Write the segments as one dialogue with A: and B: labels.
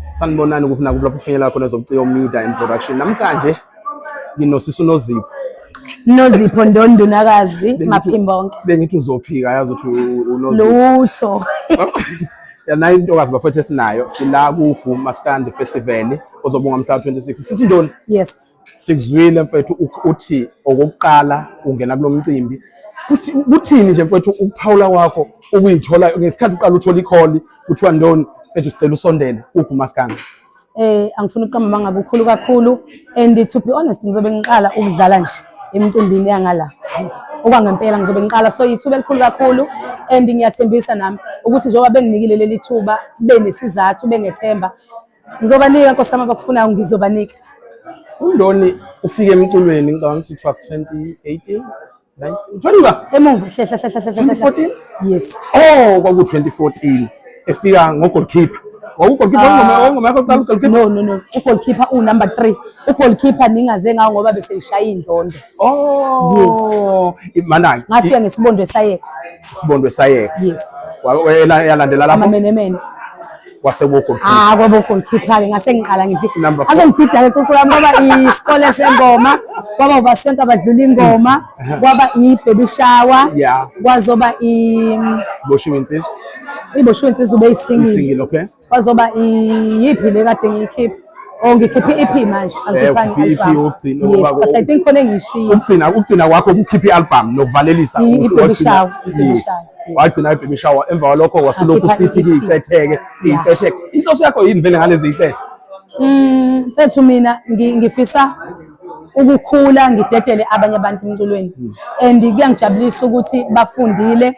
A: Sanibonani kuphi nakuphi lapho kufinyela khona zobuciko media and production. Namhlanje nginosisi uNozipho. Nozipho
B: Ndondunakazi Maphimbonke. Bengithi uzophika
A: yazi ukuthi uNozipho. Lutho. Yanayi intokazi bafethu esinayo sila ku Guma Stand Festival ozobunga mhla 26. Sisi Ndoni. Yes.
B: Sikuzwile mfethu
A: uthi okokuqala ungena kulomcimbi kuthini nje mfethu ukuphawula kwakho ukuyithola ngesikhathi uqala uthola ikholi kuthiwa ndoni mfethu sicela usondele kuphi umaskana eh angifuni
B: ukuqamba manga kukhulu kakhulu and to be honest ngizobe ngiqala ukudlala nje emcimbini yangala okwangempela ngizobe ngiqala so yithuba elikhulu kakhulu and ngiyathembisa nami ukuthi njengoba benginikile leli thuba benesizathu bengethemba Ngizobanika Nkosi yami abakufunayo ngizobanika. UNdoni
A: ufike emculweni ngicabanga ukuthi it was 2018 20 emuva hlehla
B: hlehla hlehla 2014
A: yes
B: oh kwaku 2014
A: efika ngo goalkeeper wawugoalkeeper ah. wayengoma yakho kuqala ugoalkeeper no no no ugoalkeeper
B: u number 3 ugoalkeeper ningaze ngawo ngoba bese ngishaya indondo oh yes
A: manaki ngafika ngesibondwe sayeka
B: isibondwe sayeka
A: yes wayalandela lapho amamenemene
B: kwaseBogodudu.
A: Ah kwaBogodudu-ke
B: ngase ngiqala ngithi azongidida-ke kunkulu wami kwaba isikole sengoma kwaba ubasonto abadlula ingoma mm. kwaba i-baby shower kwazoba i
A: boshiwe insizwa iboshiwe insizwa
B: ubeyisingile
A: kwazoba
B: iyiphi le kade ngiyikhipha Oh ngikhiphe i-EP manje angikhiphangi eh, i-EP
A: ukugcina ngoba but I think
B: khona engiyishiya. Ukugcina ukugcina kwakho
A: ukukhipha i-album nokuvalelisa i-baby shower.
B: Yes. Wagcina
A: i-baby shower emva kwalokho wasulokhu sithi kuyicetheke iyicetheke. Inhloso yakho yini vele ngalezi icethe? Mm,
B: mfethu mina ngifisa ukukhula ngidedele abanye abantu emculweni hmm. and kuyangijabulisa ukuthi bafundile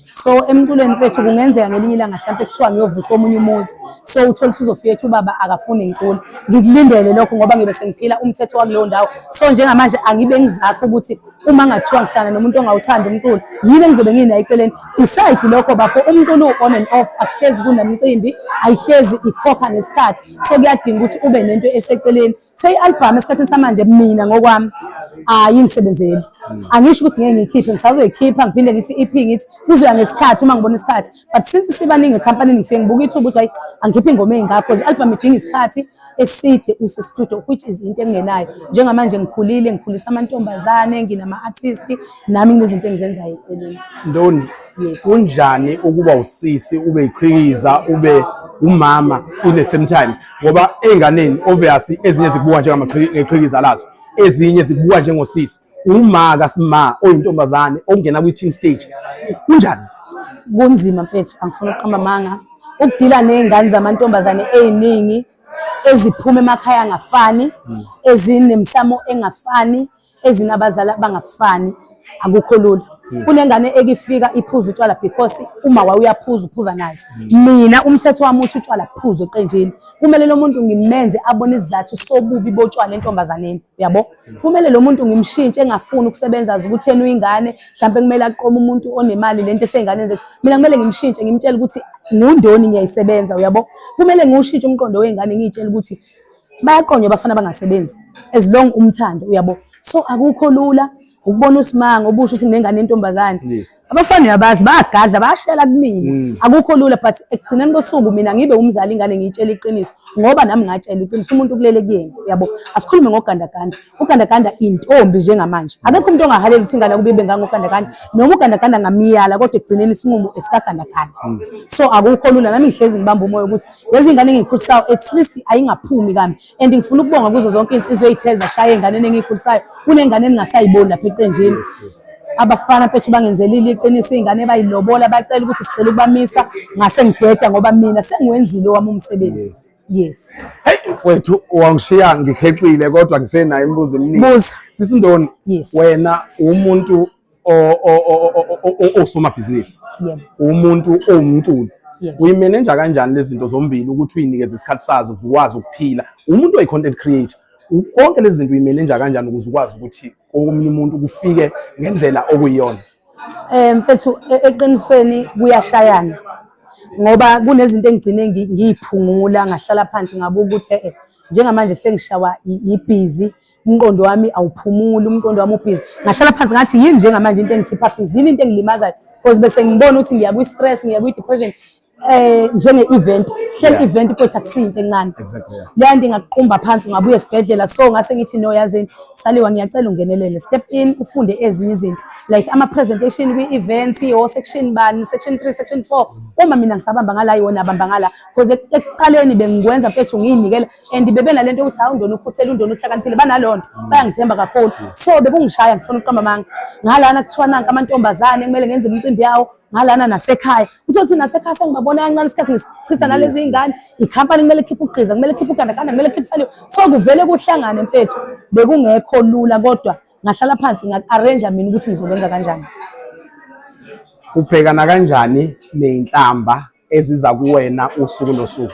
B: so emculweni fethu kungenzeka ngelinye ilanga mhlawumpe kuthiwa ngiyovusa omunye umuzi so uthole ukuthi uzofika ethi ubaba akafuni ngicula ngikulindele lokho ngoba ngibe sengiphila umthetho wakuleyo ndawo so njengamanje angibe ngizakho ukuthi uma ngathiwa ngihlala nomuntu ongawuthandi umculo yini engizobe nginayo eceleni beside lokho bafo umculo on and off akuhlezi kunemcimbi ayihlezi ikhokha ngesikhathi so kuyadinga ukuthi ube nento eseceleni Say album esikhathini samanje mina ngokwami hayi ngisebenzeli. Hmm. Angisho ukuthi ngeke ngiyikhiphe ngisazoyikhipha ngiphinde ngithi EP ngithi kuzoya ngesikhathi uma ngibona isikhathi. But since sibaningi ecompany ngifike ngibuka ithuba ukuthi hayi angikhiphe ingoma engaka because album idinga isikhathi eside use studio which is into engenayo. Njengamanje ngikhulile ngikhulisa amantombazane nginama artist nami nginezinto engizenzayo eceleni. Ndoni.
A: Yes. Kunjani ukuba usisi ube iqhikiza ube umama in the same time ngoba ey'nganeni obvious ezinye zikubuka njengamaxhikiza lazo ezinye zikubuka njengosisi uma kasima oyintombazane ongena kwi-team stage kunjani kunzima
B: mfethu angifuni ukuqamba amanga ukudila ney'ngane zamantombazane ey'ningi eziphuma emakhaya angafani ezinemsamo engafani ezinabazali abangafani akukho lula hmm. kunengane ekifika iphuza utshwala because uma waye uyaphuza uphuza nazo hmm. mina umthetho wami uthi utshwala kuphuza eqenjini kumele lo muntu ngimenze abone isizathu sobubi botshwala entombazaneni uyabo hmm. kumele lo muntu ngimshintshe engafuni ukusebenza azi ukuthi yena uyingane mhlawumbe kumele aqome umuntu onemali lento eseyinganeni zethu mina kumele ngimshintshe ngimtshele ukuthi ngundoni ngiyayisebenza uyabo kumele ngiwushintshe umqondo wey'ngane ngiyitshele ukuthi bayaqonywa abafana abangasebenzi as long umthando uyabo so akukho lula ukubona usimanga ubusho ukuthi nginengane yentombazane abafana uyabazi bayagadla bayashela kumina mm. akukho lula but ekugcineni kosuku mina ngibe umzali ingane ngiyitshela iqiniso ngoba nami ngatshela iqiniso umuntu kulele kuyena uyabo asikhulume ngogandaganda ugandaganda intombi njengamanje akekho umuntu ongahalela ukuthi ingane kube ibe ngangogandaganda noma ugandaganda ngamiyala kodwa ekugcineni isinqumo esikagandaganda mm. so akukho lula nami ngihlezi ngibamba umoya ukuthi lezi ngane engiyikhulisayo at least ayingaphumi kami and ngifuna ukubonga kuzo zonke insizwe ezitheza shaye enganeni engiyikhulisayo kunengane eningasayiboni lapha eqenjini abafana mfethu bangenzelile iqiniso izingane bayilobola bacela ukuthi sicela ukubamisa ngase ngideda ngoba mina sengiwenzile owami umsebenzi yes hey mfethu
A: wangishiya ngikhexile kodwa ngisenayo imibuzo eminingi sisindoni wena umuntu osomabhizinisi umuntu owumculi uyimenenja kanjani lezi zinto zombili ukuthi uyinikeze isikhathi sazo zikwazi ukuphila umuntu oyi-content creator konke lezi zinto uyimenenja kanjani ukuze ukwazi ukuthi omunye umuntu kufike ngendlela okuyiyona um
B: mfethu e-, eqinisweni kuyashayana ngoba kunezinto engigcine ngiyiphungula ngahlala phansi ngabuka ukuthi e-e njengamanje sengishawa yibhizi umqondo wami awuphumuli umqondo wami ubhizi ngahlala phansi ngathi yini njengamanje into engikhipha bhizi yini into engilimazayo because bese ngibona ukuthi ngiya kwi-stress ngiya kwi-depression eh njenge-event hleli event kodwa akusiyinto encane leya nto ingakuqumba phansi ungabuya esibhedlela so ngase ngithi no yazini saliwa ngiyacela ungenelele step in ufunde ezinye izinto like ama-presentation kwi-event o-section bani section three section four uma mina ngisabamba ngala yona abamba ngala because ekuqaleni bengikwenza mfethu ngiyinikela and bebenalento yokuthi hawu undona ukhuthele undona uhlakaniphile banaleyo nto mm. bayangithemba kakhulu mm. so bekungishaya ngifuna ukuqamba amanga ngalana kuthiwa nanka amantombazane kumele ngenze imicimbi yawo ngalana nasekhaya uthe uthi nasekhaya sengibabona kancane isikhathi ngisichitha nalezi ingane ikhampani kumele khiphe ugqiza kumele khiphe ugandaganda kumele khiphe saliwe so kuvele kuhlangane mfethu bekungekho lula kodwa ngahlala phansi ngaku-arrange mina ukuthi ngizokwenza kanjani ubhekana
A: kanjani nenhlamba eziza kuwena usuku nosuku?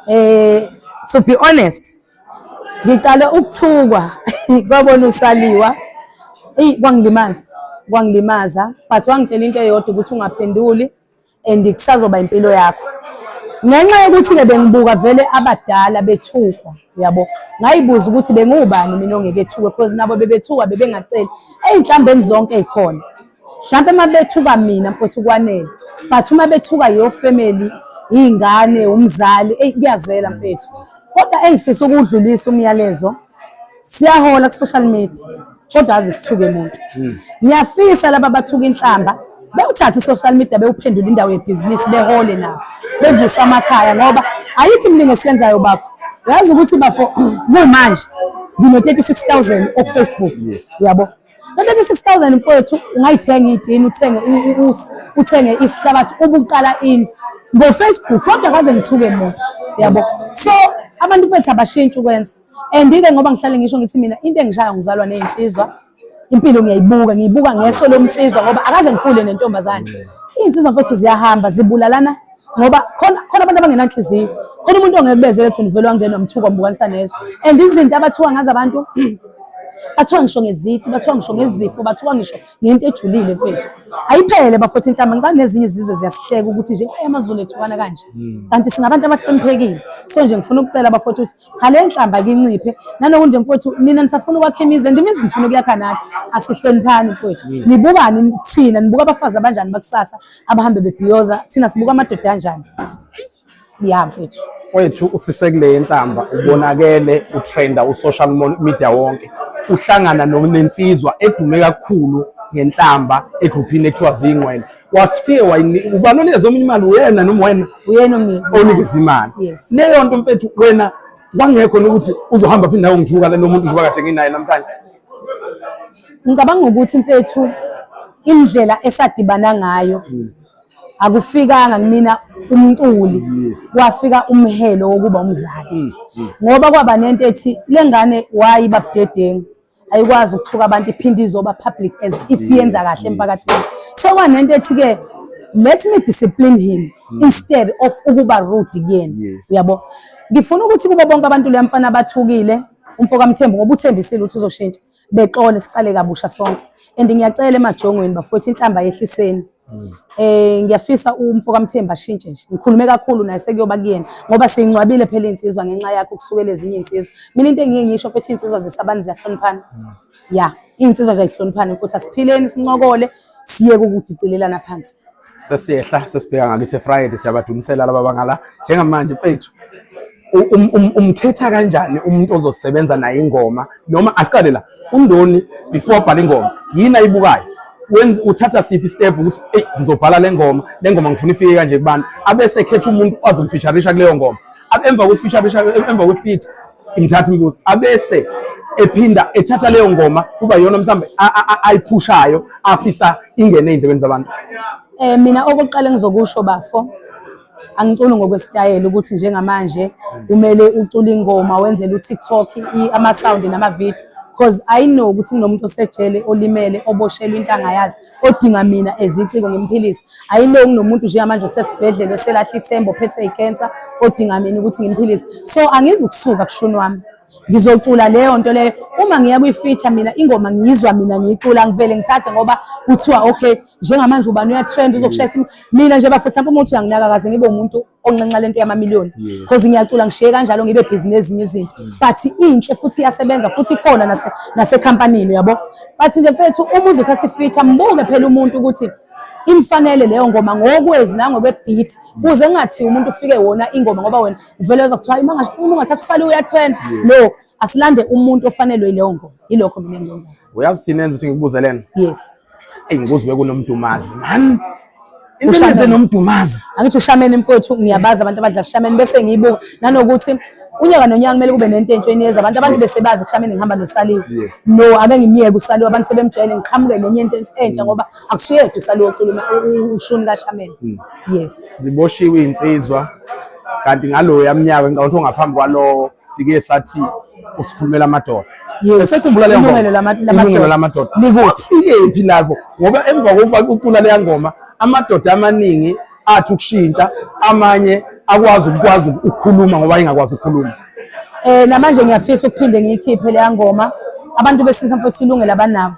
A: Eh
B: to be honest ngiqale ukuthukwa kwabona usaliwa eyi kwangilimaza kwangilimaza but wangitshela into eyodwa ukuthi ungaphenduli and kusazoba impilo yakho ngenxa yokuthi-ke bengibuka vele abadala bethukwa uyabo ngayibuza ukuthi bengiwubani mina ongeke ethukwe because nabo bebethukwa bebengaceli ey'nhlambeni zonke ey'khona mhlawumpe uma bethuka mina mfowethu kwanele but uma bethuka your family iy'ngane umzali eyi kuyazela mfethu kodwa engifisa ukuwudlulisa umyalezo siyahola ku-social media kodwa aze sithuke muntu hmm. ngiyafisa laba bathuka inhlamba bewuthathe i-social media bewuphendula indawo yebhizinisi behole nabo bevuse amakhaya ngoba ayikho imilingo esiyenzayo bafo uyazi ukuthi bafo kumanje ngino-36 000 okufacebook uyabo yes. Nobeka 6000 mfowethu ungayithenga idini uthenge usi uthenge isihlabathi ubuqala indlu ngo Facebook kodwa kaze ngithuke muntu yabo so abantu bethu abashintsha ukwenza and ke ngoba ngihlale ngisho ngithi mina into engishaya ngizalwa nezinsizwa impilo ngiyayibuka ngiyibuka ngeso lomnsizwa ngoba akaze ngikhule nentombazane izinsizwa mfowethu ziyahamba zibulalana ngoba khona khona abantu abangenanhliziyo khona umuntu ongeke kubezele thina uvele wangena umthuko mbukanisa nezwe and izinto abathuka ngazo abantu bathiwa ngisho ngezici bathiwa ngisho ngezifo bathiwa ngisho ngento ejulile mfethu ayiphele bafotha inhlamba ngicane nezinye izizwe ziyasihleka ukuthi nje ayi amazulu ethukana kanje hmm. kanti singabantu abahloniphekile so nje ngifuna ukucela bafotha ukuthi cha le nhlamba kinciphe nanokunje mfowethu nina nisafuna ukwakha imizi and imizi nifuna ukuyakha nathi asihloniphani mfowethu mm. nibukani thina nibuka abafazi abanjani bakusasa abahambe bebhiyoza thina sibuka amadoda anjani ya mfowethu mfowethu usisekule
A: yenhlamba ubonakele utrenda usocial media wonke uhlangana nensizwa edume kakhulu ngenhlamba egruphini ekuthiwa zingqwele wakufike wayinika ubani onikeza omunye imali uyena noma wena uyena
B: onikeza imali
A: leyo nto mfethu wena kwangekho nokuthi uzohamba phinde nawe ngithuka lo muntu njengoba kade nginaye namhlanje
B: ngicabanga ukuthi mfethu indlela esadibana ngayo hmm. akufikanga kumina umculi wafika umhelo wokuba umzali hmm, hmm. ngoba kwaba nento ethi lengane wayi babudedengu ayikwazi ukuthuka abantu iphinde izoba public as if yenza kahle emphakathini sekwanento ethi-ke let me discipline him mm. instead of ukuba rude kuyena uyabo ngifuna ukuthi kubo bonke abantu leya mfana abathukile umfo kamthembu ngoba uthembisile ukuthi uzoshintsha bexole siqale kabusha sonke and ngiyacela emajongweni bafowethu inhlamba yehliseni Mm. Eh ngiyafisa umfo kaMthembu ashintshe nje. Ngikhulume kakhulu naye sekuyoba kuyena ngoba singcwabile phela insizwa ngenxa yakhe ukusukela ezinye insizwa. Mina into engiye ngisho ukuthi insizwa zesabani ziyahloniphana. Mm. Ya, insizwa nje ayihloniphani futhi asiphileni sincokole siye ukudicilelana phansi. Sesiyehla
A: sesibheka ngakithi Friday siyabadumisela laba bangala njengamanje mfethu. Um, um, umkhetha kanjani umuntu ozosebenza naye ingoma noma asiqale la undoni before abhala ingoma yini ayibukayo uthatha siphi step ukuthi eyi ngizobhala le ngoma le ngoma ngifuna ifike kanje kubantu abese khetha umuntu azomfisharisha kuleyo ngoma emva kokufisharisha emva kwefit imthatha imibuzo abese ephinda ethatha leyo ngoma kuba yona mhlawumbe ayiphushayo afisa ingene ey'ndlebeni zabantu um mina
B: okokuqala engizokusho bafo angiculi ngokwesitayela ukuthi njengamanje kumele ucule ingoma wenzele uTikTok ama sound nama video because i know ukuthi kunomuntu osejele olimele oboshelwe into angayazi odinga mina eziciko ngimphilise i know kunomuntu njengamanje osesibhedlela oselahla ithemba ophethwe icancer odinga mina ukuthi ngimphilise so angizukusuka kushuni wami ngizocula leyo nto leyo uma ngiya kwi-feature mina ingoma ngiyizwa mina ngiyicula ngivele ngithathe ngoba kuthiwa okay njengamanje ubani uyatrend uzokushayisa im- mina nje bafo mhlawumbe umuntu uyanginaka kaze ngibe umuntu onxenxa lento yamamiliyoni because ngiyacula ngishiye kanjalo ngibe bhizi nezinye izinto but inhle futhi iyasebenza futhi ikhona nase- nasekhampanini uyabo but nje mfethu uma uzothatha i-feature mbuke phela umuntu ukuthi imfanele leyo ngoma ngokwezi nangokwebeat kuze kungathiwa umuntu ufike wona ingoma ngoba wena uvele weza kuthiwa uma ungathatha usale uyatrend no asilande umuntu ofanelwe ileyo ngoma ilokho mina engikwenzayo uyazi thina enza ukuthi ngikubuze
A: lena yes
B: eyi ngikuzwe
A: kunomdumazi man into nomdumazi angithi ushameni mfowethu
B: ngiyabazi abantu abadla ushameni bese ngiyibuka nanokuthi unyaka nonyaka kumele kube nento entsha eniyeza abantu abantu bese bazi kushameni ngihamba nosaliwe no ake ngimyeke usaliwe abantu sebemjwayele ngiqhamuke nenye into entsha ngoba akusiyedwa isaloyo culuma ushuni kashameni hmm. yes ziboshiwe iy'nsizwa
A: kanti ngaloyo yamnyaka ngicabanga ukuthi ongaphambi kwalowo sike sathi usikhulumela amadoda esekhumbula leyo ngoma ilungelo lamadoda likuphi lapho ngoba emva kokuba ucula leya ngoma amadoda amaningi athi ukushintsha amanye akwazi ukukwazi ukukhuluma ngoba engakwazi ukukhuluma eh namanje
B: ngiyafisa ukuphinde ngiyikhiphe leya ngoma abantu besilisa mfowethu ilungelo abanabo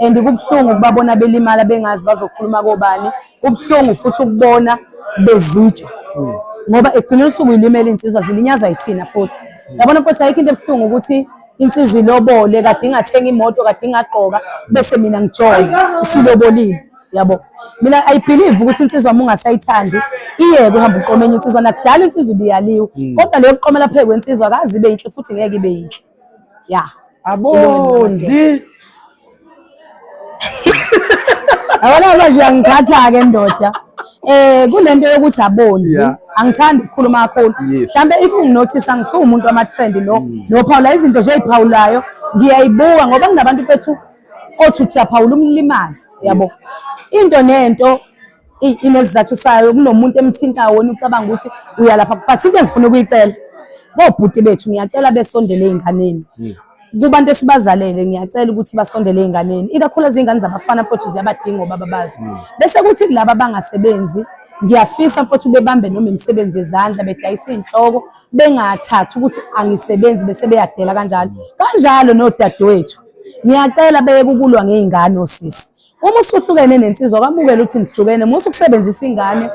B: and kubuhlungu ukubabona belimala bengazi bazokhuluma kobani kubuhlungu futhi ukubona bezitsha ngoba egcina usuku ilimele insizwa zilinyazwa yithina futhi yabona futhi ayikho into ebuhlungu ukuthi insizwa ilobole kade ingathenga imoto kade ingagqoka bese mina ngijola isilobolile yabo mina i believe ukuthi insizwa uma ungasayithandi iyeke uhamba uqoma enye insizwa nakudala insizwa ibiyaliwe hmm. kodwa leyo kuqomela phezu kwensizwa akazi ibe yinhle futhi ngeke ibe yinhle ya abondli abona manje angikhatha-ke ndoda eh kunento yokuthi abondli yeah. angithandi ukukhuluma kakhulu mhlambe if unginotice angisuwumuntu wama-trend lo mm. nophawula izinto nje eyiphawulayo ngiyayibuka ngoba kunabantu bethu othi uthi aphawula umlimazi yabo into nento inezizathu sayo kunomuntu emthintayo wona ucabanga ukuthi uyalapha but into engifuna ukuyicela bobhuti bethu ngiyacela besondele ey'nganeni hmm. kubantu esibazalele ngiyacela ukuthi basondele ey'nganeni ikakhulukazi iy'ngane zabafana futhi ziyabadinga obaba bazo hmm. bese kuthi kulaba abangasebenzi ngiyafisa futhi bebambe noma imisebenzi yezandla bedayisa iy'nhloko bengathathi ukuthi angisebenzi bese beyadela kanjalo kanjalo nodadewethu ngiyacela beye kukulwa ngey'ngane osisi uma usuhlukene nensizwa kwamukela ukuthi nihlukene musa ukusebenzisa ingane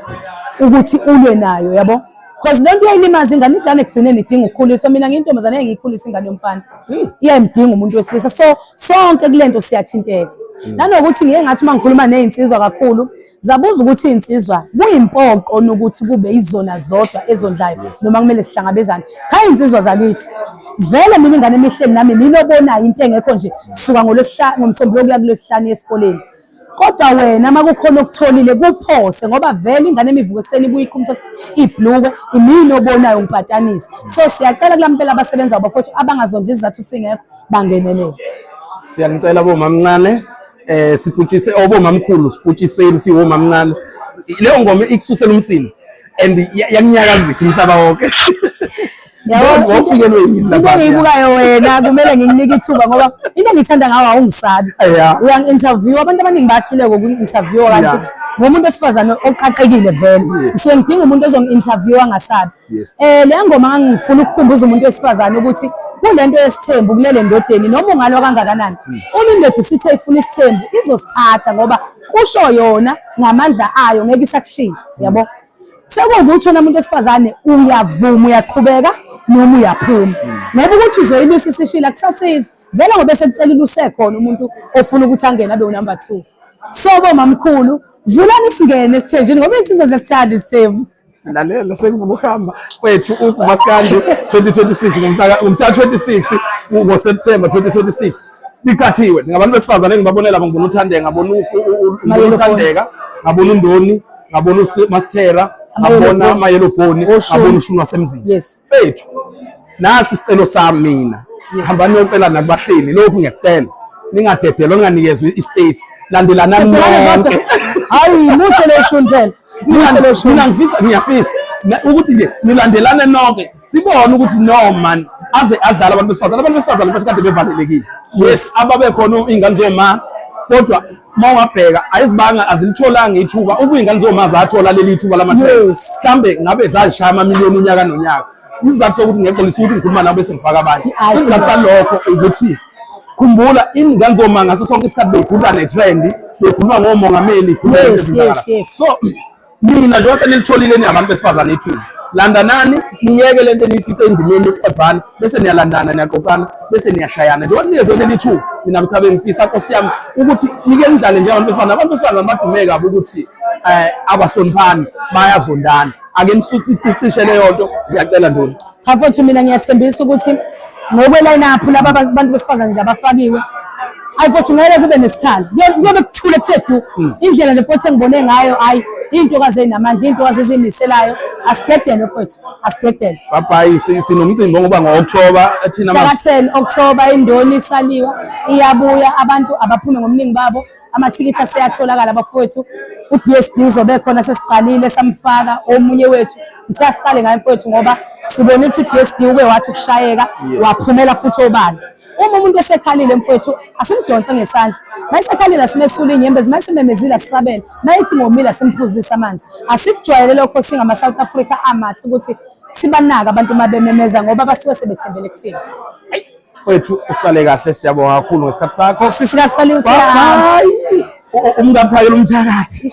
B: ukuthi ulwe nayo yabo because le nto iyayilimaza ingane ingane ekugcineni idinga ukukhuliswa mina ngiyintombazane engiyikhulisa ingane yomfana hmm. iyayimdinga umuntu wesilisa so sonke kule nto siyathinteka hmm. nanokuthi ngiye ngathi uma ngikhuluma ney'nsizwa kakhulu Zabuza ukuthi iy'nsizwa kuyimpoqo nokuthi kube izona zodwa ezondlayo noma kumele sihlangabezane. Cha iy'nsizwa zakithi vele mina ingane emihleni nami mina obonayo into engekho nje suka ngolwesihlanu ngomsombuluko kuya kulwesihlanu esikoleni kodwa wena uma kukhona okutholile kuphose ngoba vele ingane emivuka ekuseni ibuye iqhumisa ibhluke imini obonayo ngipatanisa so siyacela kula mpela abasebenza bafowethu abangazondla izizathu singekho bangenelele siyanicela
A: bomamncane eh siputshise obomamkhulu siputshiseni siwomamncane leyo ngoma ikususela umsindo and yanyakazisa umhlaba wonke
B: ngofikelwe yini into engiyibukayo wena kumele ngikunike ithuba ngoba into engithanda ngawo awungisabi uyangi-interview abantu abaningi bayahluleka ukungi-interviewa kanti ngomuntu wesifazane oqaqekile vele so ngidinga umuntu ozongi-interviewa angasabi yes eh le ngoma ngangifuna ukukhumbuza umuntu wesifazane ukuthi kulento yesithembu kulele ndodeni noma ungalwa kangakanani hmm. uma indoda isithe ifuna isithembu izosithatha ngoba kusho yona ngamandla ayo ngeke isakushintsha hmm. yabo sekuwukuthi wena muntu wesifazane uyavuma uyaqhubeka noma uyaphuma hmm. ngoba ukuthi uzoyibisa isishila kusasiza vele ngobe sekutshelile usekhona umuntu ofuna ukuthi angene abe unumber two sobo mamkhulu vulani singene esithenjini ngoba iy'nsizwa zesithanda isithembu lalela sengifuna
A: ukuhamba kwethu umaskandi 2026 ngomhla 26 ngoSeptember 2026 liqathiwe ngabantu besifazane engibabonela labo ngibona uThandeka ngabona uThandeka ngabona uNdoni ngabona uMasithera ngabona amayelobhoni ngabona ushuni wasemzini fethu nasi isicelo sami mina hamba niyocela nakubahleli lokhu ngiyacela ningadedelwa ninganikezwe ispace landelanani nonke hayi
B: muhle leshuni phela mina ngifisa
A: ngiyafisa ukuthi nje nilandelane nonke sibone ukuthi no man aze adlala abantu besifazane abantu besifazane bathi kade bevalelekile yes ababe khona ingane zoma kodwa uma ungabheka ayizibanga azilitholanga ithuba ukuba ingane zoma zathola leli thuba lamathele mhlambe ngabe zazishaya amamiliyoni unyaka nonyaka isizathu sokuthi ngexolisa ukuthi ngikhuluma nabo bese ngifaka abanye isizathu salokho ukuthi Khumbula ingane zoma ngaso sonke isikhathi bekhuluma netrend, bekhuluma ngomongameli, yes, yes, yes.
B: So
A: mina njengoba senilitholile ni abantu besifazane ithuba landanani niyeke lento eniyifice endimeni yokuqabhana bese niyalandana niyaqoqana bese niyashayana njengoba niyezwe leli thuba mina mthabe ngifisa nkosi yami ukuthi nike nidlale njengabantu besifazane abantu besifazane badume kabi ukuthi um abahloniphani bayazondana ake nisuthi icishe leyo nto ngiyacela ndoni Cha mfowethu mina
B: ngiyathembisa ukuthi ngokweline up laba bantu besifazane nje abafakiwe hayi mfowethu ngeke kube nesikhala kuyobe kuthule kuthe du hmm. indlela le mfowethu engibone ngayo hayi iy'ntokazi ezinamandla iy'ntokazi ezimiselayo asigedele mfowethu asigedele babhayi sinomcimbi
A: onguba ngo-okthoba thina saka-ten okthoba
B: indoni isaliwa iyabuya abantu abaphume ngobuningi babo amathikithi aseyatholakala bafowethu u-DSD uzobe khona sesiqalile samfaka omunye wethu ngithiwa siqale ngayo mfowethu ngoba sibone ukuthi u-DSD uke wathi ukushayeka waphumela futhi obala uma umuntu esekhalile mfowethu asimdonse ngesandla mayisekhalile asimesula inyembezi mayisimemezile asisabele mayithi ngomile asimfuzise amanzi asikujwayele lokho singama-south africa amahle ukuthi sibanaka abantu uma bememeza ngoba basuke sebethembele kuthina Wethu
A: usale kahle siyabonga kakhulu ngesikhathi sakho. Sisikasalusa. Bye. Umkaphayela umthakathi.